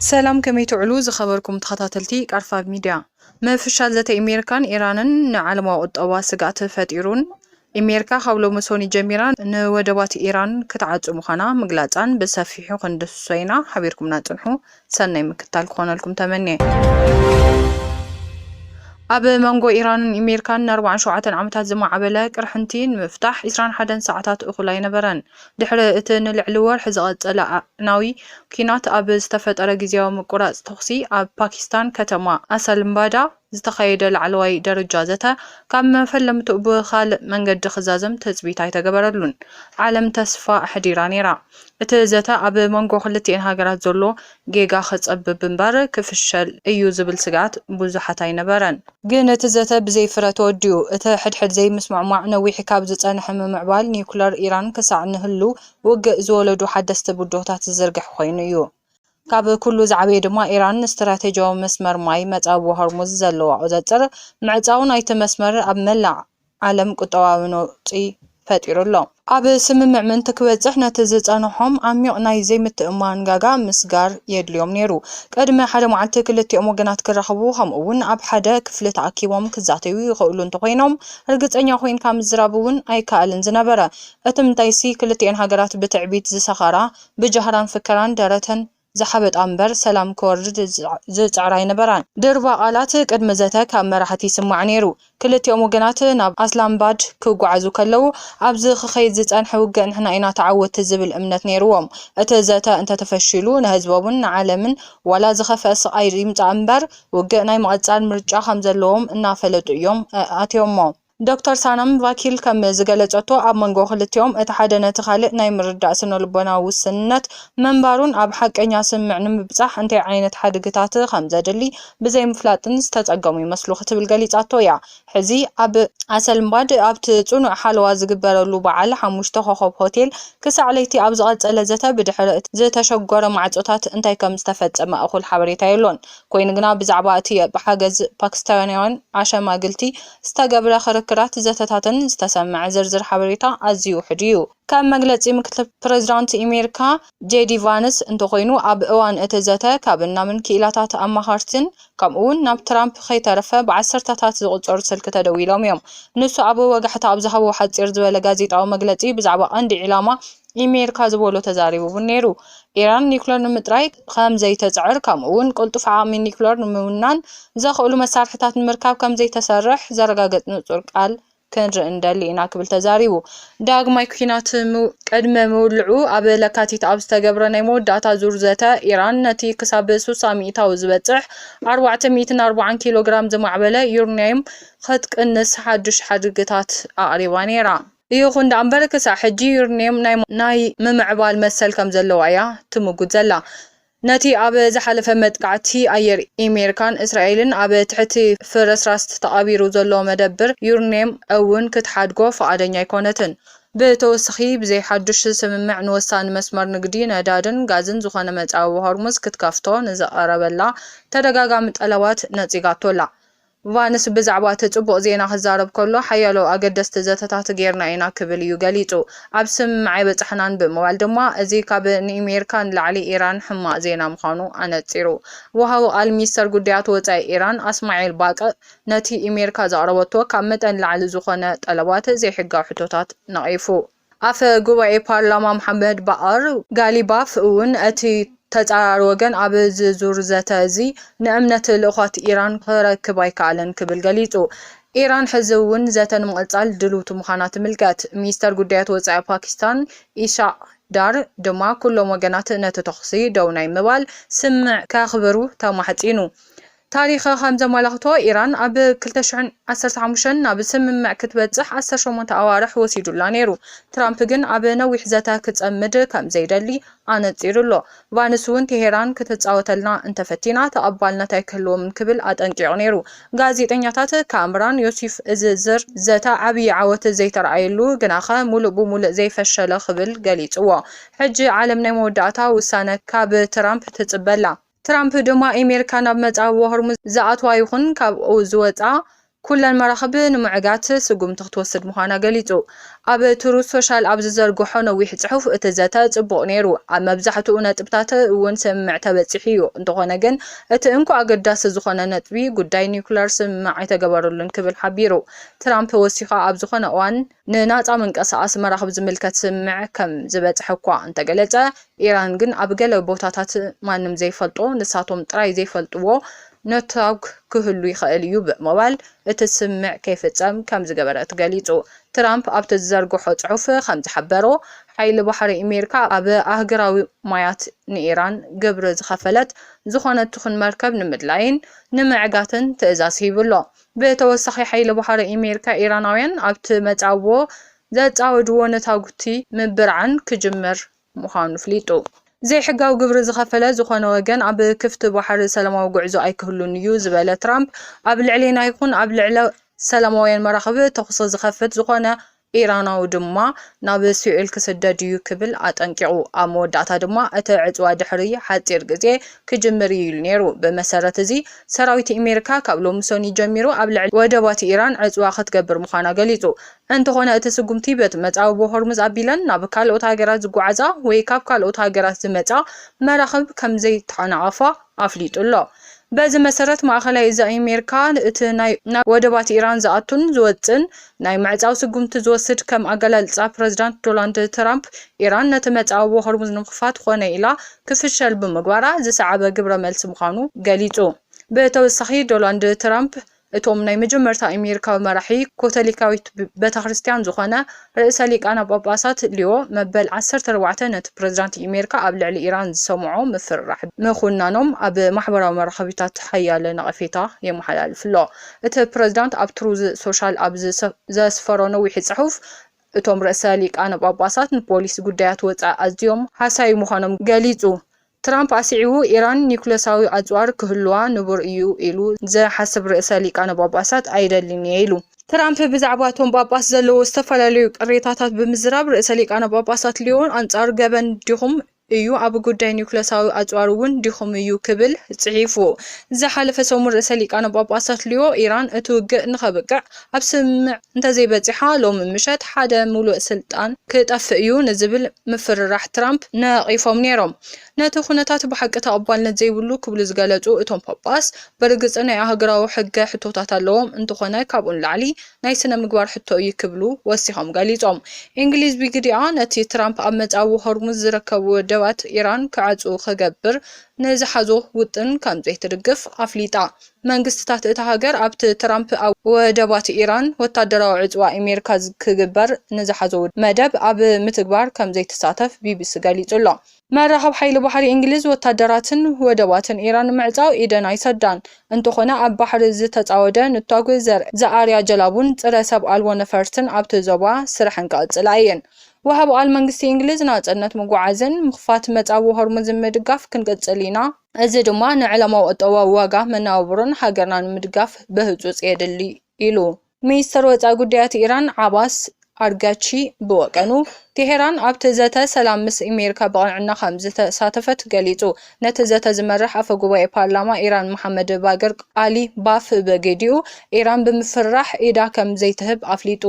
ሰላም ከመይ ትውዕሉ ዝኸበርኩም ተኸታተልቲ ቃርፋ ሚድያ። ምፍሻል ዘተ ኢሜርካን ኢራንን ንዓለማዊ ቁጠባ ስግኣት ፈጢሩን ኢሜርካ ካብ ሎሚ ሶኒ ጀሚራ ንወደባት ኢራን ክትዓጹ ምዃና ምግላጻን ብሰፊሑ ክንድህስሶ ኢና ሓቢርኩምና ጽንሑ ሰናይ ምክትታል ክኾነልኩም ተመንየ። ኣብ መንጎ ኢራንን እሜሪካን ንኣርባዓን ሸውዓተን ዓመታት ዝማዕበለ ቅርሕንቲ ንምፍታሕ ዕስራን ሓደን ሰዓታት እኹል ኣይነበረን። ድሕሪ እቲ ንልዕሊ ወርሒ ዝቐጸለ ኣዕናዊ ኲናት ኣብ ዝተፈጠረ ግዝያዊ ምቁራጽ ተኹሲ ኣብ ፓኪስታን ከተማ ኣሰልምባዳ፣ ዝተኻየደ ላዕለዋይ ደረጃ ዘተ ካብ መፈለምትኡ ብኻልእ መንገዲ ክዛዘም ትጽቢት ኣይተገበረሉን። ዓለም ተስፋ ኣሕዲራ ነይራ፣ እቲ ዘተ ኣብ መንጎ ክልቲኤን ሃገራት ዘሎ ጌጋ ክጸብብ እምበር ክፍሸል እዩ ዝብል ስግኣት ብዙሓት ኣይነበረን። ግን እቲ ዘተ ብዘይ ፍረ ተወዲኡ። እቲ ሕድሕድ ዘይምስምዕማዕ ነዊሕ ካብ ዝጸንሐ ምምዕባል ኒዩክለር ኢራን ክሳዕ ንህሉው ውግእ ዝወለዱ ሓደስቲ ብድሆታት ዝዝርግሕ ኮይኑ እዩ። ካብ ኩሉ ዝዓበየ ድማ ኢራን ንስትራቴጂያዊ መስመር ማይ መጻብቦ ሆርሙዝ ዘለዋ ቁዘጽር ምዕጻው ናይቲ መስመር ኣብ መላእ ዓለም ቁጠባዊ ነውጺ ፈጢሩ ኣሎ። ኣብ ስምምዕ ምእንቲ ክበጽሕ ነቲ ዝጸንሖም ዓሚቕ ናይ ዘይምትእምማን ጋጋ ምስጋር የድልዮም ነይሩ። ቅድሚ ሓደ መዓልቲ ክልቲኦም ወገናት ክራኸቡ ከምኡ'ውን ኣብ ሓደ ክፍሊ ተኣኪቦም ክዛተዩ ይኽእሉ እንተኾይኖም ርግጸኛ ኮይንካ ምዝራብ'ውን ኣይከኣልን ዝነበረ። እቲምንታይሲ ክልቲኤን ሃገራት ብትዕቢት ዝሰኸራ ብጃህራን ፍከራን ደረተን ዝሓበጣ እምበር ሰላም ክወርድ ዝጽዕራ ኣይነበራን። ድርባ ቃላት ቅድሚ ዘተ ካብ መራሕቲ ይስማዕ ነይሩ። ክልቲኦም ወገናት ናብ ኣስላምባድ ክጓዓዙ ከለዉ፣ ኣብዚ ክኸይድ ዝጸንሐ ውግእ ንሕና ኢና ተዓወትቲ ዝብል እምነት ነይርዎም። እቲ ዘተ እንተተፈሺሉ ንህዝቦምን ንዓለምን ዋላ ዝኸፍኣ ስቓይ ይምጻእ እምበር ውግእ ናይ ምቕጻል ምርጫ ከምዘለዎም እናፈለጡ እዮም ኣትዮሞ። ዶክተር ሳነም ቫኪል ከም ዝገለጸቶ፣ ኣብ መንጎ ክልቲኦም እቲ ሓደ ነቲ ካልእ ናይ ምርዳእ ስነልቦናዊ ውስንነት ምንባሩን ኣብ ሓቀኛ ስምምዕ ንምብጻሕ እንታይ ዓይነት ሓድግታት ከም ዘድሊ ብዘይምፍላጥን ዝተጸገሙ ይመስሉ ክትብል ገሊጻቶ እያ። ሕዚ ኣብ ኣሰልምባድ ኣብቲ ጽኑዕ ሓለዋ ዝግበረሉ በዓል ሓሙሽተ ኮኾብ ሆቴል ክሳዕ ለይቲ ኣብ ዝቐጸለ ዘተ ብድሕሪ እቲ ዝተሸጎረ ማዕጾታት እንታይ ከም ዝተፈጸመ እኹል ሓበሬታ የሎን። ኰይኑ ግና ብዛዕባ እቲ ብሓገዝ ፓኪስታንያውያን ኣሸማግልቲ ዝተገብረ ክርክራትን ዘተታትን ዝተሰምዐ ዝርዝር ሓበሬታ ኣዝዩ ውሑድ እዩ። ከም መግለጺ ምክትል ፕሬዚዳንት ኢሜሪካ ጄዲ ቫንስ እንተኾይኑ ኣብ እዋን እቲ ዘተ ካብ ናምን ክኢላታት ኣማኸርቲን ከምኡ እውን ናብ ትራምፕ ከይተረፈ ብዓሰርተታት ዝቑጸሩ ስልኪ ተደዊሎም እዮም። ንሱ ኣብ ወጋሕታ ኣብ ዝሃቦ ሓጺር ዝበለ ጋዜጣዊ መግለጺ ብዛዕባ ቀንዲ ዒላማ ኢሜሪካ ዝበሎ ተዛሪቡቡ ነይሩ። ኢራን ኒዩክለር ንምጥራይ ከምዘይተጽዕር ከምኡ'ውን ቅልጡፍ ዓቕሚ ኒዩክለር ንምውናን ዘኽእሉ መሳርሒታት ንምርካብ ከምዘይተሰርሕ ዘረጋግጽ ንጹር ቃል ክንርኢ ንደሊ ኢና ክብል ተዛሪቡ። ዳግማይ ኲናት ቅድሚ ምውልዑ ኣብ ለካቲት ኣብ ዝተገብረ ናይ መወዳእታ ዙር ዘተ፣ ኢራን ነቲ ክሳብ ስሳ ሚእታዊ ዝበጽሕ ኣርባዕተ ሚእትን ኣርብዓን ኪሎግራም ዝማዕበለ ዩርንያዩም ክትቅንስ ሓድሽ ሓድግታት ኣቕሪባ ነይራ። ይኹን ደኣምበር ክሳዕ ሕጂ ዩርኒየም ናይ ምምዕባል መሰል ከምዘለዋ እያ ትምጉት ዘላ። ነቲ ኣብ ዝሓለፈ መጥቃዕቲ ኣየር ኢሜሪካን እስራኤልን ኣብ ትሕቲ ፍርስራስት ተቓቢሩ ዘሎ መደብር ዩርኒየም እውን ክትሓድጎ ፍቓደኛ ኣይኮነትን። ብተወስኺ ብዘይ ሓዱሽ ስምምዕ ንወሳኒ መስመር ንግዲ ነዳድን ጋዝን ዝኾነ መጻብቦ ሆርሙዝ ክትከፍቶ ንዝቐረበላ ተደጋጋሚ ጠለባት ነጺጋቶ ኣላ። ቫንስ ብዛዕባ እቲ ጽቡቕ ዜና ክዛረብ ከሎ፣ ሓያሎ ኣገደስቲ ዘተታት ገይርና ኢና ክብል እዩ ገሊጹ። ኣብ ስምምዕ ኣይበጻሕናን ብምባል ድማ፣ እዚ ካብ ንኢሜሪካ ንላዕሊ ኢራን ሕማቕ ዜና ምዃኑ ኣነጺሩ። ወሃቢ ቃል ሚኒስተር ጉዳያት ወጻኢ ኢራን ኣስማዒል ባቅእ፣ ነቲ ኢሜሪካ ዘቕረበቶ ካብ መጠን ንላዕሊ ዝኾነ ጠለባት ዘይሕጋዊ ሕቶታት ነቒፉ። ኣፈ ጉባኤ ፓርላማ መሓመድ ባኣር ጋሊባፍ እውን እቲ ተጻራሪ ወገን ኣብዚ ዙር ዘተ እዚ ንእምነት ልኡኻት ኢራን ክረክብ ኣይከኣለን ክብል ገሊጹ። ኢራን ሕዚ እውን ዘተ ንምቕጻል ድልውቲ ምዃና ትምልከት። ሚኒስተር ጉዳያት ወጻኢ ፓኪስታን ኢሻቕ ዳር ድማ ኩሎም ወገናት ነቲ ተዅሲ ደው ናይ ምባል ስምምዕ ከኽብሩ ተማሕጺኑ። ታሪኽ ከም ዘመላኽቶ፣ ኢራን ኣብ ክልተ ሽሕን ዓሰርተ ሓሙሽተን ናብ ስምምዕ ክትበጽሕ ዓሰርተ ሸሞንተ ኣዋርሕ ወሲዱላ ነይሩ። ትራምፕ ግን ኣብ ነዊሕ ዘተ ክጸምድ ከም ዘይደሊ ኣነጺሩ ኣሎ። ቫንስ'ውን ቴሄራን ክትጻወተልና እንተ ፈቲና ተቐባልነት ኣይክህልዎምን ክብል ኣጠንቂቑ ነይሩ። ጋዜጠኛታት ካምራን ዮሲፍ እዚ ዝር ዘተ ዓብዪ ዓወት ዘይተርኣየሉ ግናኸ ምሉእ ብምሉእ ዘይፈሸለ ክብል ገሊጽዎ። ሕጂ ዓለም ናይ መወዳእታ ውሳነ ካብ ትራምፕ ትጽበ ኣላ። ትራምፕ ድማ ኣሜሪካ ናብ መጻብቦ ሆርሙዝ ዝኣትዋ ይኹን ካብኡ ዝወጽኣ ኩለን መራኽብ ንምዕጋት ስጉምቲ ክትወስድ ምዃና ገሊጹ። ኣብ ትሩዝ ሶሻል ኣብ ዝዘርግሖ ነዊሕ ጽሑፍ፣ እቲ ዘተ ጽቡቕ ነይሩ፣ ኣብ መብዛሕትኡ ነጥብታት እውን ስምምዕ ተበጺሑ እዩ፣ እንተዀነ ግን እቲ እንኮ ኣገዳሲ ዝዀነ ነጥቢ ጉዳይ ኒዩክለር ስምምዕ ኣይተገበረሉን ክብል ሓቢሩ። ትራምፕ ወሲኹ ኣብ ዝዀነ እዋን ንናጻ ምንቀስቓስ መራኽብ ዝምልከት ስምምዕ ከም ዝበጽሐ'ኳ እንተገለጸ፣ ኢራን ግን ኣብ ገለ ቦታታት ማንም ዘይፈልጦ፣ ንሳቶም ጥራይ ዘይፈልጥዎ ነትጓ ክህሉ ይኽእል እዩ ብምባል እቲ ስምምዕ ከይፍጸም ከም ዝገበረት ገሊጹ። ትራምፕ ኣብቲ ዝዘርግሖ ጽሑፍ ከም ዝሓበሮ፣ ሓይሊ ባሕሪ ኣሜሪካ ኣብ ኣህጉራዊ ማያት ንኢራን ግብሪ ዝኸፈለት ዝኾነት ትኹን መርከብ ንምድላይን ንምዕጋትን ትእዛዝ ሂቡ ኣሎ። ብተወሳኺ ሓይሊ ባሕሪ ኣሜሪካ ኢራናውያን ኣብቲ መጻብቦ ዘጻወድዎ ነታጉቲ ምብርዓን ክጅምር ምዃኑ ኣፍሊጡ። ዘይሕጋዊ ግብሪ ዝኸፈለ ዝኾነ ወገን ኣብ ክፍቲ ባሕሪ ሰላማዊ ጉዕዞ ኣይክህሉን እዩ ዝበለ ትራምፕ፣ ኣብ ልዕሌና ይኹን ኣብ ልዕሊ ሰላማውያን መራኽብ ተኹሲ ዝኸፍት ዝኾነ ኢራናዊ ድማ ናብ ሲኦል ክስደድ እዩ ክብል ኣጠንቂቑ። ኣብ መወዳእታ ድማ እቲ ዕጽዋ ድሕሪ ሓጺር ግዜ ክጅምር እዩ ኢሉ ነይሩ። ብመሰረት እዚ፣ ሰራዊት ኣሜሪካ ካብ ሎሚ ሰኑይ ጀሚሩ ኣብ ልዕሊ ወደባት ኢራን ዕጽዋ ክትገብር ምዃና ገሊጹ። እንተዀነ እቲ ስጕምቲ በቲ መጻብቦ ሆርሙዝ ኣቢለን ናብ ካልኦት ሃገራት ዝጓዓዛ ወይ ካብ ካልኦት ሃገራት ዝመጻ መራኽብ ከም ዘይተዓናቐፋ፣ ኣፍሊጡ ኣሎ። በዚ መሰረት ማእኸላይ እዝ ኣሜሪካ እቲ ናይ ናብ ወደባት ኢራን ዝኣቱን ዝወፅእን ናይ ምዕፃው ስጉምቲ ዝወስድ ከም ኣገላልፃ ፕረዚዳንት ዶላንድ ትራምፕ ኢራን ነቲ መፃብቦ ሆርሙዝ ንምኽፋት ኾነ ኢላ ክፍሸል ብምግባራ ዝሰዓበ ግብረ መልሲ ምዃኑ ገሊፁ። ብተወሳኺ ዶላንድ ትራምፕ እቶም ናይ መጀመርታ ኤሜሪካዊ መራሒ ኮተሊካዊት በተክርስትያን ዝኾነ ርእሰ ሊቃነ ጳጳሳት ሊዮ መበል ዓሰርተ ኣርባዕተ ነቲ ፕረዚዳንት ኤሜሪካ ኣብ ልዕሊ ኢራን ዝሰምዖ ምፍርራሕ ምኹናኖም ኣብ ማሕበራዊ መራኸቢታት ሓያለ ነቐፌታ የመሓላልፍ ኣሎ። እቲ ፕረዚዳንት ኣብ ትሩዝ ሶሻል ኣብ ዘስፈሮ ነዊሒ ጽሑፍ እቶም ርእሰ ሊቃነ ጳጳሳት ንፖሊሲ ጉዳያት ወጻኢ ኣዝዮም ሃሳዪ ምዃኖም ገሊጹ ትራምፕ ኣስዒቡ፣ ኢራን ኒዩክለሳዊ ኣጽዋር ክህሉዋ ንቡር እዩ ኢሉ ዝሓስብ ርእሰ ሊቃነ ጳጳሳት ኣይደልን እየ ኢሉ። ትራምፕ ብዛዕባ እቶም ጳጳስ ዘለዎ ዝተፈላለዩ ቅሬታታት ብምዝራብ፣ ርእሰ ሊቃነ ጳጳሳት ሊዮን ኣንጻር ገበን ዲኹም እዩ፣ ኣብ ጉዳይ ኒዩክለሳዊ ኣጽዋር እውን ዲኹም እዩ ክብል ጽሒፉ። ዝሓለፈ ሰሙን ርእሰ ሊቃነ ጳጳሳት ሊዮ፣ ኢራን እቲ ውግእ ንኸብቅዕ፣ ኣብ ስምምዕ እንተዘይበጺሓ ሎሚ ምሸት ሓደ ምሉእ ስልጣን ክጠፍእ እዩ ንዝብል ምፍርራሕ ትራምፕ ነቒፎም ነይሮም። ነቲ ኵነታት ብሓቂ ተቐባልነት ዘይብሉ ክብሉ ዝገለጹ እቶም ጳጳስ፣ ብርግጽ ናይ ኣህጉራዊ ሕገ ሕቶታት ኣለዎም፣ እንተዀነ ካብኡ ንላዕሊ ናይ ስነ-ምግባር ሕቶ እዩ ክብሉ ወሲኾም ገሊጾም። እንግሊዝ ብግዲኣ፣ ነቲ ትራምፕ ኣብ መጻብቦ ሆርሙዝ ዝርከቡ ወደባት ኢራን ክዓጽዉ ክገብር ንዝሓዞ ውጥን ከምዘይትድግፍ ኣፍሊጣ። መንግስቲታት እታ ሃገር ኣብቲ ትራምፕ ኣብ ወደባት ኢራን ወታደራዊ ዕጽዋ ኢሜሪካ ክግበር ንዝሓዞ መደብ ኣብ ምትግባር ከም ዘይትሳተፍ ቢቢሲ ገሊጹ ኣሎ። መራኸብ ሓይሊ ባሕሪ እንግሊዝ ወታደራትን ወደባትን ኢራን ንምዕጻው ኢደን ኣይሰዳን፣ እንተኾነ ኣብ ባሕሪ ዝተጻወደ ንቷግ ዘርኢ ዝኣርያ ጀላቡን ጽረ ሰብ ኣልቦ ነፈርትን ኣብቲ ዞባ ስርሐን ክቕጽላ እየን። ወሃቢ ቃል መንግስቲ እንግሊዝ ናጽነት ምጉዓዝን ምኽፋት መጻብቦ ሆርሙዝን ምድጋፍ ክንቅጽል ኢና፣ እዚ ድማ ንዕለማዊ ቁጠባዊ ዋጋ መነባብሮን ሃገርና ንምድጋፍ ብህፁፅ የድሊ ኢሉ። ሚኒስተር ወፃኢ ጉዳያት ኢራን ዓባስ ኣርጋቺ ብወገኑ፣ ቴሄራን ኣብቲ ዘተ ሰላም ምስ ኣሜሪካ ብቕንዕና ከምዝተሳተፈት ገሊጹ። ነቲ ዘተ ዝመርሕ ኣፈ ጉባኤ ፓርላማ ኢራን መሓመድ ባገር ቓሊ ባፍ ብግዲኡ፣ ኢራን ብምፍርራሕ ኢዳ ከምዘይትህብ ኣፍሊጡ።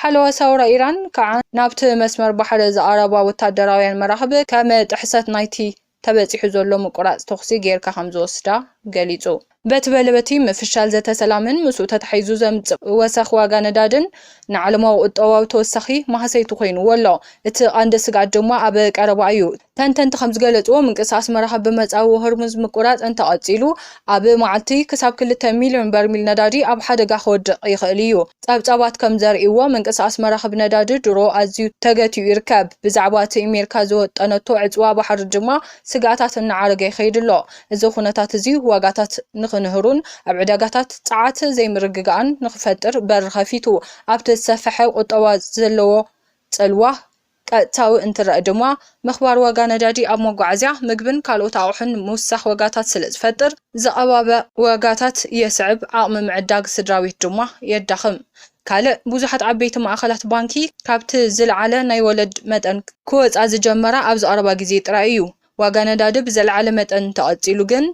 ሓለዋ ሳውራ ኢራን ከዓ ናብቲ መስመር ባሕሪ ዝኣረባ ወታደራውያን መራኽብ ከም ጥሕሰት ናይቲ ተበጺሑ ዘሎ ምቁራጽ ተኹሲ ገይርካ ከምዝወስዳ ገሊጹ። በቲ በለበቲ ምፍሻል ዘተ ሰላምን ምስኡ ተታሒዙ ዘምጽእ ወሰኽ ዋጋ ነዳድን ንዓለማዊ ቁጠባዊ ተወሳኺ ማህሰይቲ ኮይንዎ ኣሎ። እቲ ቐንዲ ስግኣት ድማ ኣብ ቀረባ እዩ። ተንተንቲ ከምዝገለጽዎ ምንቅስቓስ መራኽብ ብመጻብቦ ሆርሙዝ ምቁራጽ እንተቐጺሉ ኣብ መዓልቲ ክሳብ ክልተ ሚልዮን በርሚል ነዳዲ ኣብ ሓደጋ ክወድቕ ይኽእል እዩ። ጸብጻባት ከም ዘርእይዎ፣ ምንቅስቓስ መራኽብ ነዳዲ ድሮ ኣዝዩ ተገቲኡ ይርከብ፣ ብዛዕባ እቲ እሜሪካ ዝወጠነቶ ዕጽዋ ባሕሪ ድማ ስግኣታት እናዓረገ ይኸይድ ኣሎ። እዚ ኵነታት እዚ ዋጋታት ንኽንህሩን ኣብ ዕዳጋታት ጸዓት ዘይምርግጋእን ንኽፈጥር በሪ ኸፊቱ፣ ኣብቲ ዝሰፈሐ ቍጠባ ዘለዎ ጽልዋ ቀጥታዊ እንትረኣ ድማ ምኽባር ዋጋ ነዳዲ ኣብ መጓዓዝያ፣ ምግብን ካልኦት ኣቑሑን ምውሳኽ ዋጋታት ስለዝፈጥር ዝቐባበ ዋጋታት የስዕብ፣ ዓቕሚ ምዕዳግ ስድራቤት ድማ የዳኽም። ካልእ ብዙሓት ዓበይቲ ማእኸላት ባንኪ ካብቲ ዝለዓለ ናይ ወለድ መጠን ክወፃ ዝጀመራ ኣብዚ ቀረባ ግዜ ጥራይ እዩ። ዋጋ ነዳዲ ብዘለዓለ መጠን እንተቐፂሉ ግን፣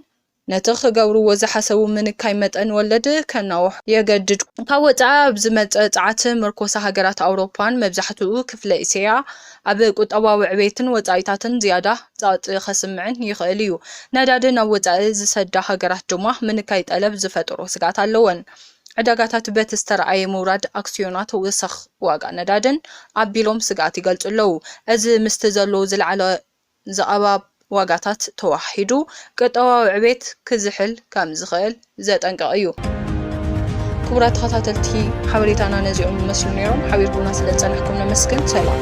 ነቲ ክገብርዎ ዝሓሰቡ ምንካይ መጠን ወለድ ከናውሑ የገድድ። ካብ ወጻኢ ኣብ ዝመጽእ ጸዓት ምርኮሳ ሃገራት ኣውሮፓን መብዛሕትኡ ክፍለ እስያ ኣብ ቁጠባዊ ዕቤትን ወጻኢታትን ዝያዳ ጸቕጢ ከስምዕን ይኽእል እዩ። ነዳዲ ናብ ወጻኢ ዝሰዳ ሃገራት ድማ ምንካይ ጠለብ ዝፈጥሮ ስግኣት ኣለወን። ዕዳጋታት በቲ ዝተርኣየ ምውራድ ኣክስዮናት ወሰኽ ዋጋ ነዳድን ኣቢሎም ስግኣት ይገልጹ ኣለዉ። እዚ ምስቲ ዘሎ ዝለዓለ ዝቐባብ ዋጋታት ተወሃሂዱ ቁጠባዊ ዕቤት ክዝሕል ከምዝኽእል ዘጠንቅቕ እዩ። ክቡራት ተኸታተልቲ ሓበሬታና ነዚኦም ይመስሉ ነይሮም። ሓቢርኩምና ስለዝፀናሕኩም ነመስግን። ሰላም።